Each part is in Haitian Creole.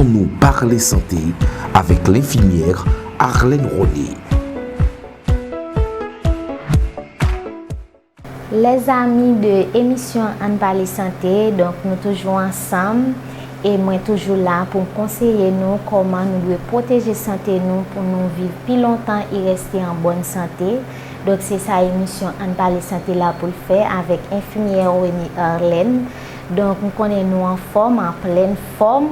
Annou parle sante avèk lenfimyèr Arlène Rony. Les amis de emisyon ann pale sante donk nou toujou ansanm e mwen toujou la pou m konseye nou kòman nou dwe pwoteje sante nou pou nou viv pi lontan e reste an bòn sante donk se sa emisyon ann pale sante la pou l fè avèk enfimyè Rony Arlène Donk m konnen nou anfòm, an plèn fòm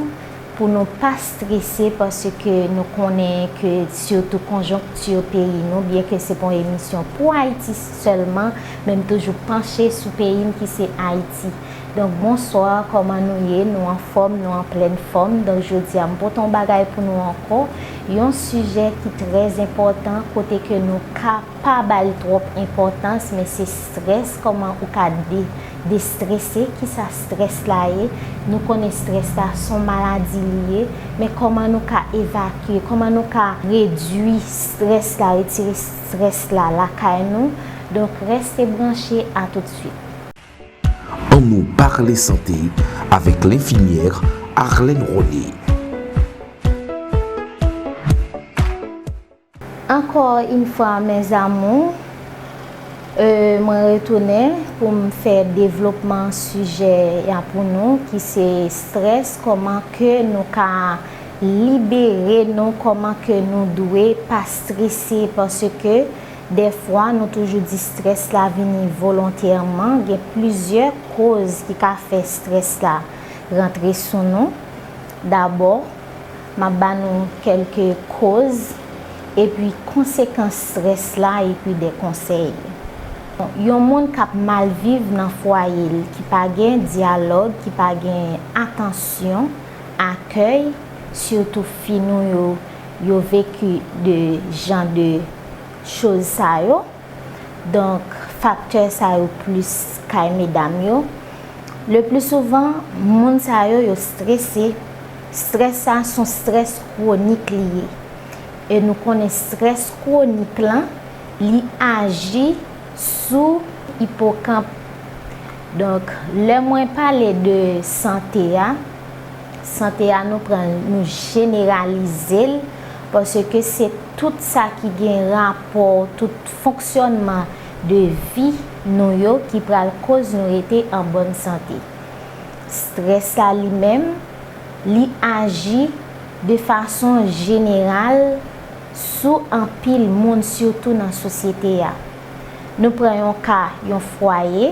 pou nou pa strese paske nou konnen ke sitou konjonkti peyi nou, byen ke se pa yon emisyon pou Ayiti sèlman, men m toujou panche sou peyi m ki se Ayiti. Donk bonswa, kòman nou ye, nou anfòm, nou an plèn fòm. Donk jodi a m pote yon bagay pou nou ankò, yon sijè ki trè enpòtan kote ke nou ka. Pa bal trop enpòtans men se stress koman ou ka de destresse kisa stress la ye nou konnen stress la son maladi li ye men koman nou ka evakye koman nou ka redwi stress la retire stress la lakay nou donk reste branche a tout suite. An nou parle sante avèk lenfimyèr Arlène Rony. Encore une fois mes amours mwen retounen pou m fè devlopman sijè ya pou nou ki se stress koman ke nou ka libere nou koman ke nou dwe pa strese paske dèfwa nou toujou di stress la vini volontèman gen plizyè koz ki ka fè stress la rantre sou nou dabò M ap ba nou kèlke koz epi konsekans strès la epi de konsèy. Yon moun k ap mal viv nan fwaye l ki pa gen dyalòg, ki pa gen atansyon, akèy, sitou fi nou yo, yo veki de jan de choz sa yo. Donk, faktè sa yo plis kay medam yo. Le pli souvan, moun sa yo, yo strese. Strès sa, son strès kwonik li ye. E nou konnen strès kwonik lan, li aji sou ipokanp. Donk, lè mwen pale de sante a, Sante a nou pran l nou jeneralize l paske se tout sa ki gen rapò tout fonksyònman de vi nou yo ki pral koz nou rete an bòn sante. Strès la li menm li aji de fason jeneral sou anpil moun sitou nan sosyete a. Nou pran yon ka, yon fwaye,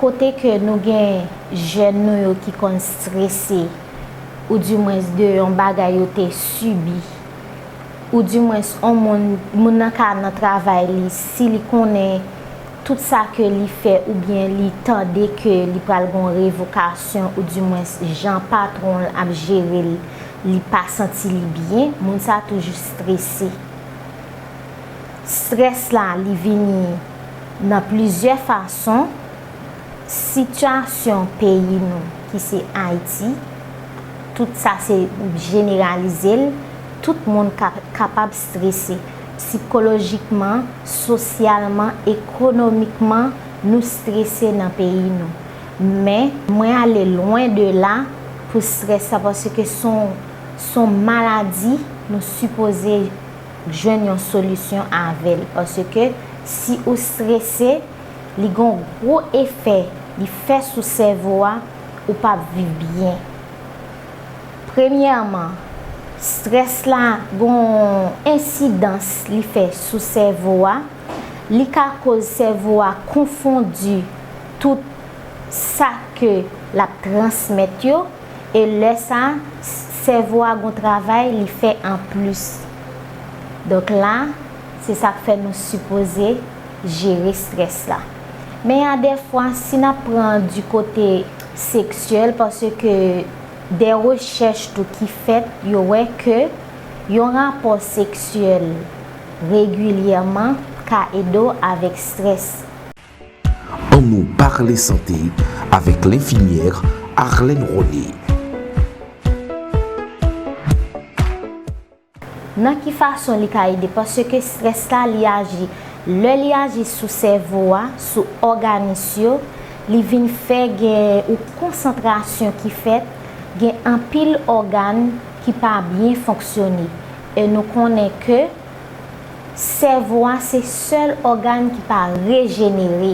kote ke nou gen jèn nou yo ki konn strese, ou di mwens de yon bagay yo te sibi, ou di mwens on moun, moun nan ka nan travay li, si li konnen tout sa ke li fè ou byen li tande ke li pral gen yon revokasyon ou di mwens jan patwon l ap jere l, li pa santi li byen, moun sa toujou strese. Strès la li vini nan plizyè fason, sitiyasyon peyi nou ki se Ayiti, tout sa se jeneralize l, tout moun kapab strese. Sikolojikman, sosyalman, ekonomikman, nou strese nan peyi nou. Men, mwen ale lwen de la pou strès la paske son maladi nou sipoze. jwenn yon solisyon avèl paske si ou strese li gon gwo efè li fè sou sèvo a ou pap viv byen premyèman strès la gon ensidans li fè sou sèvo a li ka koz sèvo a konfondi tout sa ke lap transmèt yo. E lè sa, sèvo a gon travay li fè an plis. Donk la, se sa k fè nou sipoze jere strès la. Men y a dè fwa, si n ap pran di kote seksyèl, paske dè rechèch tou ki fèt, yo wè ke yon rapò seksyèl regilyèman ka ede w avèk strès. Annou parle sante avèk lenfimyèr Arlène Rony. Nan ki fason li ka ede? Paske strès la li aji, lè li aji sou sèvo a, sou òganis yo, li vin fè gen yon konsantrasyon ki fèt, gen anpil ògan ki pa byen fonksyone. E nou konnen ke Sèvo a se sèl ògàn ki pa rejenere,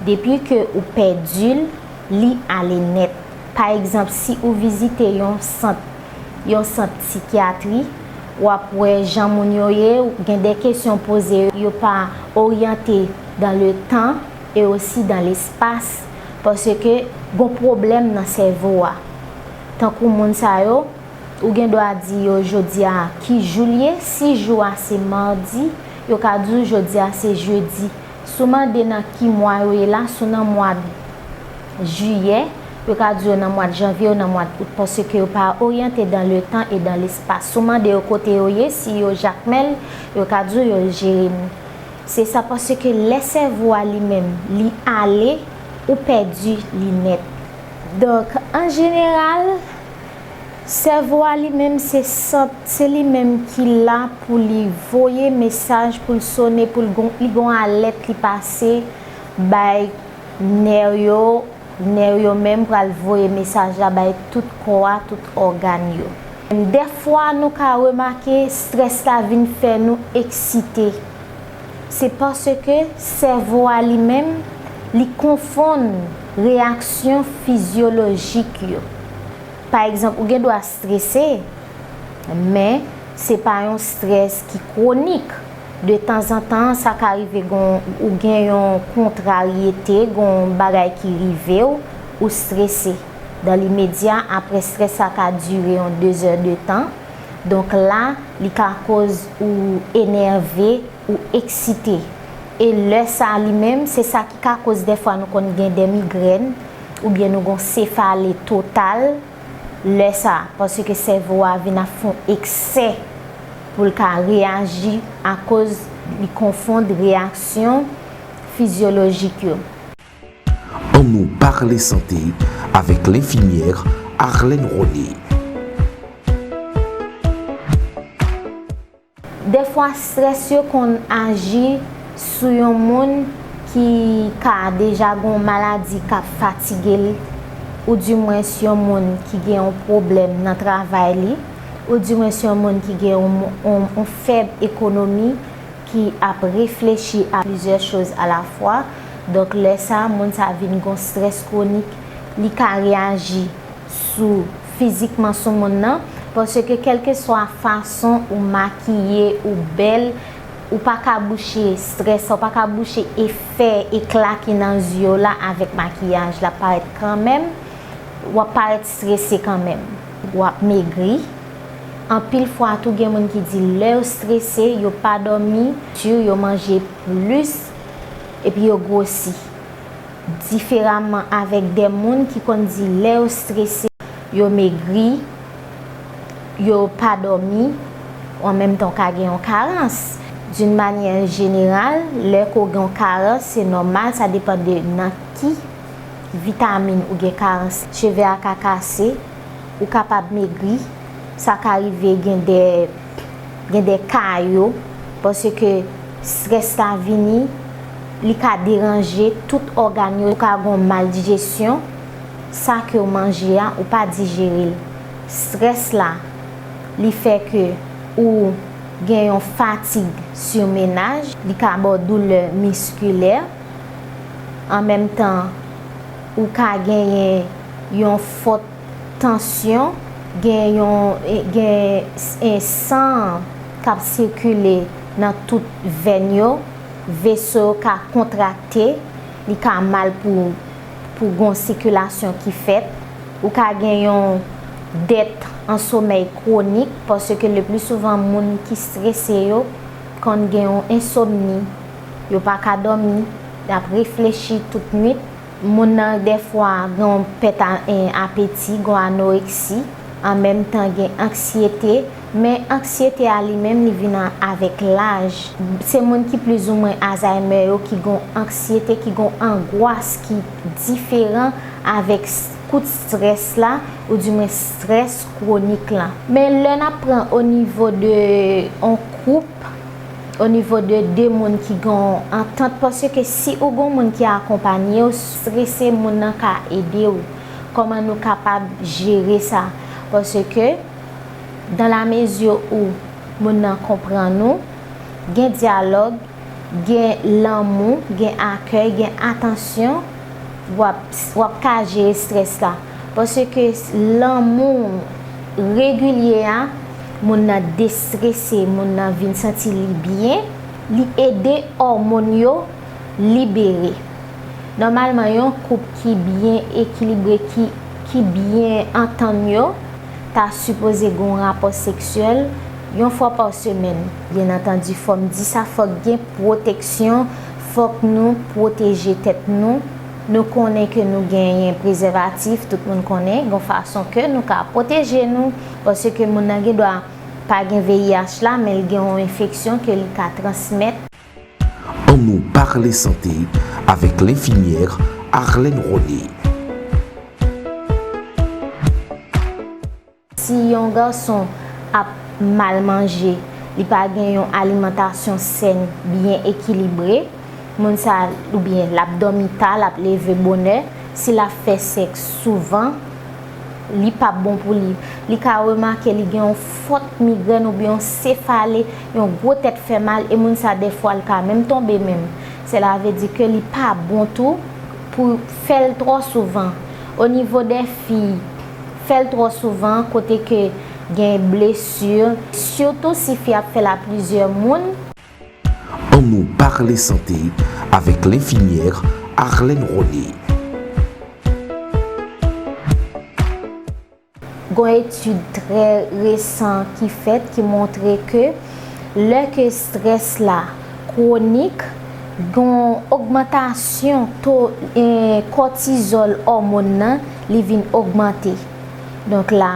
depi ke ou pèdi l, li ale nèt. Pa egzanp si ou vizite yon sant, yon sant sikyatri, w ap wè jan moun yo ye, gen de kesyon w poze yo, yo pa oryante dan le tan e osi dan lespas, paske gon pwoblèm nan sèvo a. Tankou moun sa yo. Ou gen dwa di yo jodi a ki jou l ye, si jou a se madi, yo ka di w jodi a se jedi. Si w mande nan ki mwa yo ye la, si w nan mwad jiyè, yo ka di yo nan mwad janvye ou nan mwad out paske yo pa oryante dan letan e dan lespas. Si w mande yo kote yo ye, si yo Jakmèl, yo ka di w yo Jeremi. Se sa paske lè sèvo a li menm li ale, ou pèdi li nèt. Donk, an jeneral. Sèvo a li menm se sant, se li menm ki la pou li voye mesaj pou l sone pou l gon li gon alèt li pase bay nè yo, nè yo menm pral voye mesaj la bay tout kò a, tout ògàn yo. Dèfwa nou ka remake strès la vin fè nou eksite. Se paske sèvo a li menm, li konfonn reyaksyon fizyolojik yo. Pa egzanp, ou gen dwa strese, men se pa yon strès ki kwonik. De tanzantan, sa ka rive ou gen yon kontraryete, gen yon bagay ki rive ou, ou strese. Dan limedya, apre strès la ka dire yon dezè de tan. Donk la, li ka koz ou enève, ou eksite. E lè sa a li menm, se sa ki ka koz dèfwa nou konn gen dè migrèn, oubyen nou gon sefale total, lè sa, paske sèvo a vin ap fon eksè pou l ka reyaji akoz li konfond reyaksyon fizyolojik yo. Annou parle sante avèk lenfimyèr Arlène Rony. Dèfwa strès yo konn aji sou yon moun ki ka deja gen yon maladi k ap fatige l oudimwens yon moun ki gen yon pwoblèm nan travay li oudimwens yon moun ki gen yon fèb ekonomi. ki ap reflechi a plizyè choz alafwa, donk lè sa moun sa vin gon strès kwonik, li ka reyaji sou fizikman sou moun nan, paske kèlkeswa fason ou makiye ou bèl ou pa ka bouche strès sa, ou pa ka bouche efè ekla ki nan zyew la avèk makiyaj, lap parèt kanmèm, wap parèt strese kanmèm, wap megri. Anpil fwa tou gen moun ki di lè yo strese yo pa dòmi dur yo manje plis epi yo gwosi. Diferaman avèk de moun ki konn di lè yo strese yo megri, yo pa dòmi, an menm tan w ka gen yon karans. D'une manière générale lè ke w gen yon karans se nòmal sa depan de nan ki vitamin ou gen karans cheve a ka kase. Ou kapab megri, sa ka rive gen de gen de ka yo paske strès la vini li ka deranje tout ògàn yo, ou ka gon maldijesyon sa kew manje a ou pa dijerel, strès la li fè ke ou gen yon fatig simenaj, li ka baw doulè miskilè an menm tan ou ka genyen yon fòt. tansyon, gen yon gen en san an kap sikile nan tout vèn yo, veso yo ka kontrakte, li ka mal pou pou gon sikilasyon ki fèt, ou ka gen yon dèt an somèy kwonik paske le pli souvan moun ki strese yo konn gen yon ensomni, yo pa ka dòmi, yap reflechi tout nwit. Moun nan dèfwa gen yon pèt apeti, gen anoreksi, an menm tan gen anksyete, men anksyete a li menm li vin avèk laj. Se moun ki plizoumwen azaymè yo ki gen yon anksyete, ki gen yon angwas ki diferan avèk kout strès la ou di mwen strès kwonik lan. Men lè n ap pran o nivo de yon koup, O nivo de 2 moun ki gen yon antant paske ke si ou gon moun ki akonpanye ou strese moun nan ka ede ou kòman nou kapab jere sa paske ke dan la mezi ou moun nan konprann ou gen dyalòg gen lanmou gen akèy gen atansyon wap wap ka jere strès la paske ke lanmou regilye a. Moun nan destrese, moun nan vin santi li byen, li ede òmon yo libere. Nòmalman yon koup ki byen ekilibre ki byen antann yo ta sipoze gen yon rapò seksyèl yon fwa pa semèn. Byen antandi fòm di sa fòk gen pwoteksyon, fòk nou pwoteje tèt nou, nou konnen ke nou genyen prezèvatif, tout moun konnen gen yon fason ke nou ka pwoteje nou. Paske moun nan gen dwa pa gen VIH la men li gen yon enfeksyon ke li ka transmèt. An nou parle sante avèk lenfimyèr Arlène Rony. Si yon gason ap mal manje, li pa gen yon alimantasyon sèn, byen ekilibre, moun sa oubyen lap dòmi ta, lap leve bonè, si lap fè sèks souvan, li pap bon pou li. Li ka remake li gen yon fòt migrèn oubyen yon sefale, yon gwo tèt fè mal e moun sa dèfwa li ka menm tonbe menm. Sela ve di ke li pa bon tou pou fèl twò souvan. O nivo dè fi, fèl twò souvan kote ke gen blesur, sitou si fi ap fèl a plizyè moun. Annou parle sante avèk lenfimyèr Arlène Rony. Gon etid trè resan ki fèt ki montre ke lè ke strès la kwonik, gon ogmantasyon to kòtizòl òmon nan li vin ogmante. Donk la.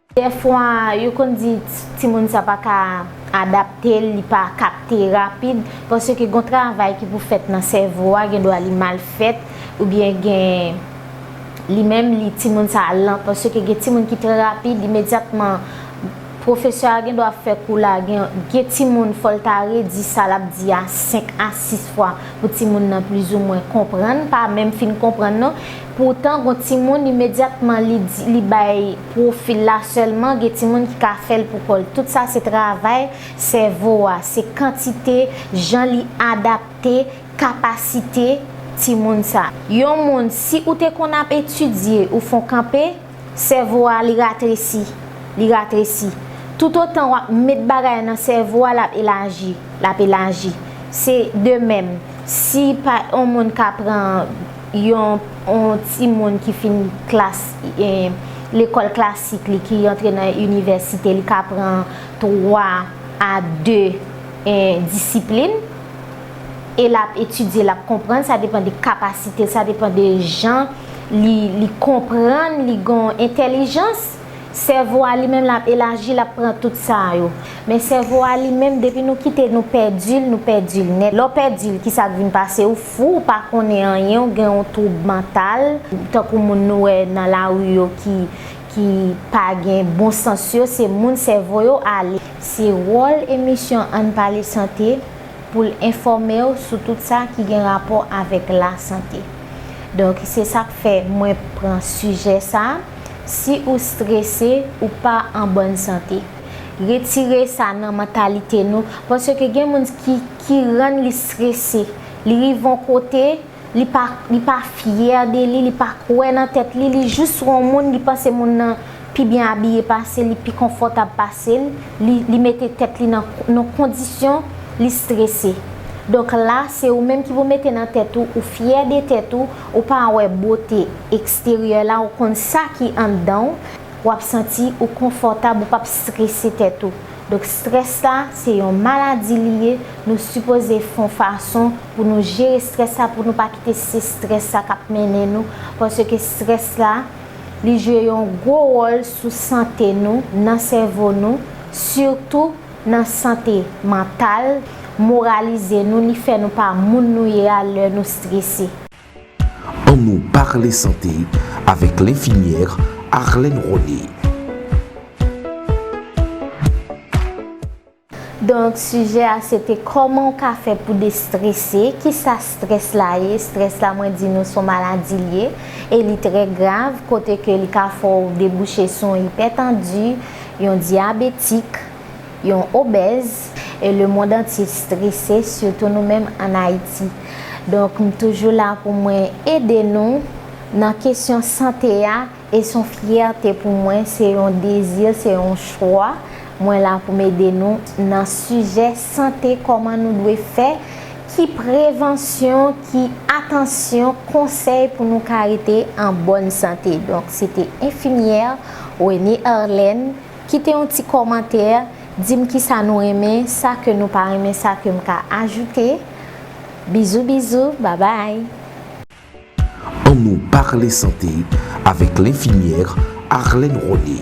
Dèfwa yo konn di timoun sa pa ka adapte l, li pa kapte rapid paske gon travay ki pou fèt nan sèvo a gen dwa li mal fèt oubyen gen li menm li timoun sa lan paske gen timoun ki trè rapid imedyatman pwofesè a gen dwa ap fè kou la gen timoun fò l ta redi sa l ap di a 5 a 6 fwa pou timoun nan plizoumwen konprann pa menm fin konprann non poutan gon timoun imedyatman li bay Pwofil la sèlman gen timoun ki ka fèl pou kòl tout sa se travay sèvo a se kantite jan li adapte kapasite timoun sa. Yon moun si ou te konn ap etidye ou fon kanpe sèvo a li ratresi li ratresi tout otan wap met bagay nan sèvo a lap elaji lap elaji se de menm si pa on moun ka pran Yon timoun ki fin klas lekòl klasik li ki antre nan inivèsite li ka pran 3 a 2 disiplin e l ap etidye l ap konprann sa depan de kapasite l sa depan de jan li konprann li gen entèlijans. Sèvo a li menm lap elaji lap pran tout sa yo. Men sèvo a li menm depi nou kite nou pèdil nou pèdil nèt. Lè w pèdil kisak vin pase ou fou ou pa konnen anyen ou gen yon twoub mantal tankou moun nou wè nan lari yo ki ki pa gen bon sans yo se moun sèvo yo ale. Se wòl emisyon Ann Pale Sante pou l enfòme w sou tout sa ki gen rapò avèk lasante. Donk se sak fè mwen pran sijè sa. Si ou strese, ou pa an bòn sante. Retire sa nan mantalite nou, paske gen moun ki ki rann li strese. Li rive yon kote, li pa li pa fyè de li, li pa kwè nan tèt li, li jis wè yon moun, li panse moun nan pi byen abiye pase l, li pi konfòtab pase l, li li mete tèt li nan yon kondisyon li strese. Donk la, se ou menm ki pou mete nan tèt ou, ou fyè de tèt ou, Ou pa wè bote eksteryè la ou konn sa ki anndan w, wap santi ou konfòtab ou pap strese tèt ou. Donk strès la se yon maladi li ye, nou sipoze fon fason pou nou jere strès la pou nou pa kite se strès la kap mennen nou paske strès la li jwe yon gwo wòl sou sante nou nan sèvo nou sitou nan sante mantal, moralize nou li fè nou pa moun nou ye a lè nou strese. An nou parle sante avèk lenfimyèr Arlène Rony. Donk sijè a se te kòman ou ka fè pou destrese, kisa strès la ye, strès la mwen di nou son maladi li ye e li trè grav kote ke li ka fè w debouche sou yon ipètandi, Yon dyabetik, yon obèz, e le mond antye strese sitou nou menm an Ayiti. Donk m toujou la pou mwen ede nou nan kesyon sante a e s on fyète pou mwen, se yon dezi, se yon chwa, mwen la pou m ede nou nan sijè sante kòman nou dwe fè, ki prevansyon, ki atansyon, konsèy pou nou ka rete an bòn sante. Donk se te enfimyè. Rene Arlene, kite yon ti kòmantè, di m kisa nou renmen, sa ke nou pa renmen sa ke m ka ajoute. Bizou bizou, babay! An nou parle santé avèk lenfimyèr Arlene Rony.